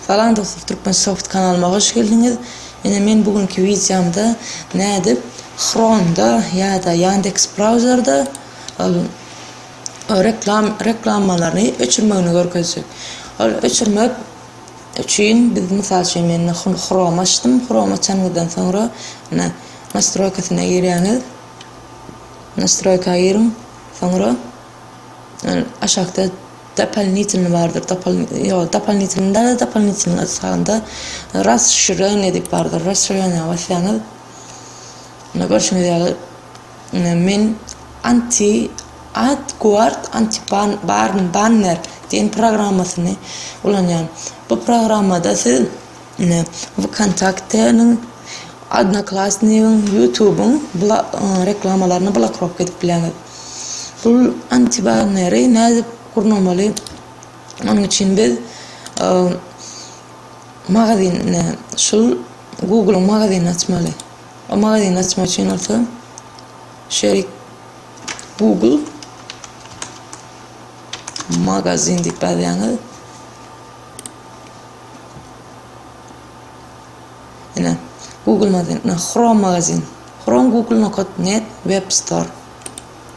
Salam dostlar Türkmen soft kanalyma hoş geldiňiz. Ine men bu günki wideomda nädip Chrome-da ýa-da Yandex Browser-da ol reklam reklamalaryny öçürmegini görkezjek. Ol öçürmek üçin biz mysal üçin men Chrome açdym. Chrome açanyňyzdan soňra ine nastroýkasyna girýäňiz. Nastroýka giriň. Soňra aşakda Dopolnitelny bardyr, dopol, ýok, dopolnitelny däl-de, dopolnitelnyň ady sagynda Rasşirenýa diýip bardyr. Rasşirenýa basýaňyz, ine, görşüňiz ýaly, ine, men anti, ad, guard, anti, ban, barn, banner diýen programmasyny ulanýan. Bu programmada siz. Ine, Vkontakte-niň, Odnoklassnigi-iň, Ýutubyň reklamalaryny blokirovka edip bilersiňiz. Bu antibanneri nädip gurnamaly? Onuň üçin biz magazin, ine, şul Google-yň magazinini açmaly. O magazyny açmak üçin bolsa şeýle Google magazin diýip ýazýaňyz. Ine, Google magazin, ine, Chrome magazin. Chrome Google nokat net web store.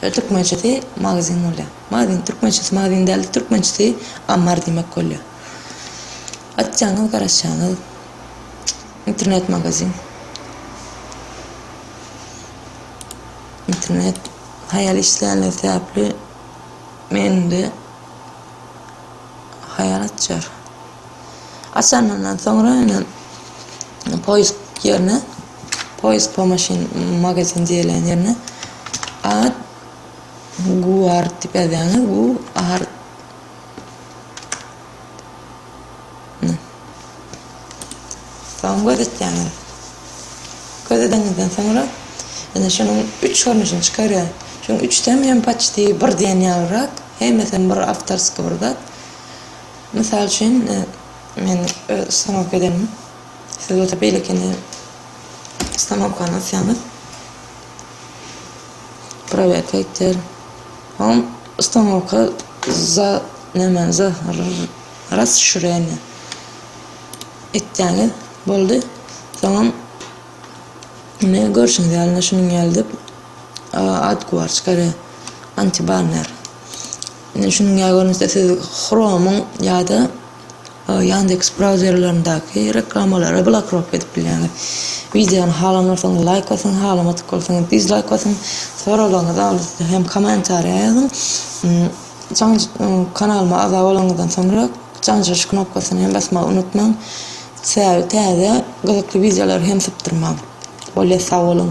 Şöyle türkmençesi magazin bolýar. Magazin türkmençesi magazin däl, türkmençesi ammar diýmek bolýar. Açjaňyz, garaşjaňyz. Internet magazin. Internet haýal işlänler sebäpli mende Haýal açar. Açanyndan soňra indi poýsk ýerine, poýsk po maşyn magazin diýlen ýerine ad guard diýip ýazýaňyz, gu ar Soň gözetýäňiz. Gözedenizden soňra indi şunuň üç görnüşini çykarýar. Şuň üçdem hem paçti bir diýen ýalyrak. Hemmesem bir awtorskiý bir zat. Mysal üçin, men öz ustanowka edenim. Siz bolsa beýlekini ustanowkany asýaňyz. Prowerka aýtýar. Hom ustanowka za nämäni za rasşirýeniýa etýäňiz. Boldy. Soňam Ine, görşüňiz ýaly-da şunuň ýalydyr. Ad kuwarç gary antibanner. Ine, şunuň ýaly görnüşde siz Chrome-yň ýa-da Yandex brauzerlerindäki reklamalary blokirovka edip bilýäňiz. Wideony halanlarsyňyz laýk basyň, halamadyk bolsaňyz dizlaýk basyň. Soraglaryňyzy alysda hem kommentariýa ýazyň. Kanalyma agza bolanyňyzdan soňra jaňjaş knopkasyny hem basmagy unutmaň. Sähel täze gyzykly wideolary hem sypdyrmaň. Bolýa sag boluň.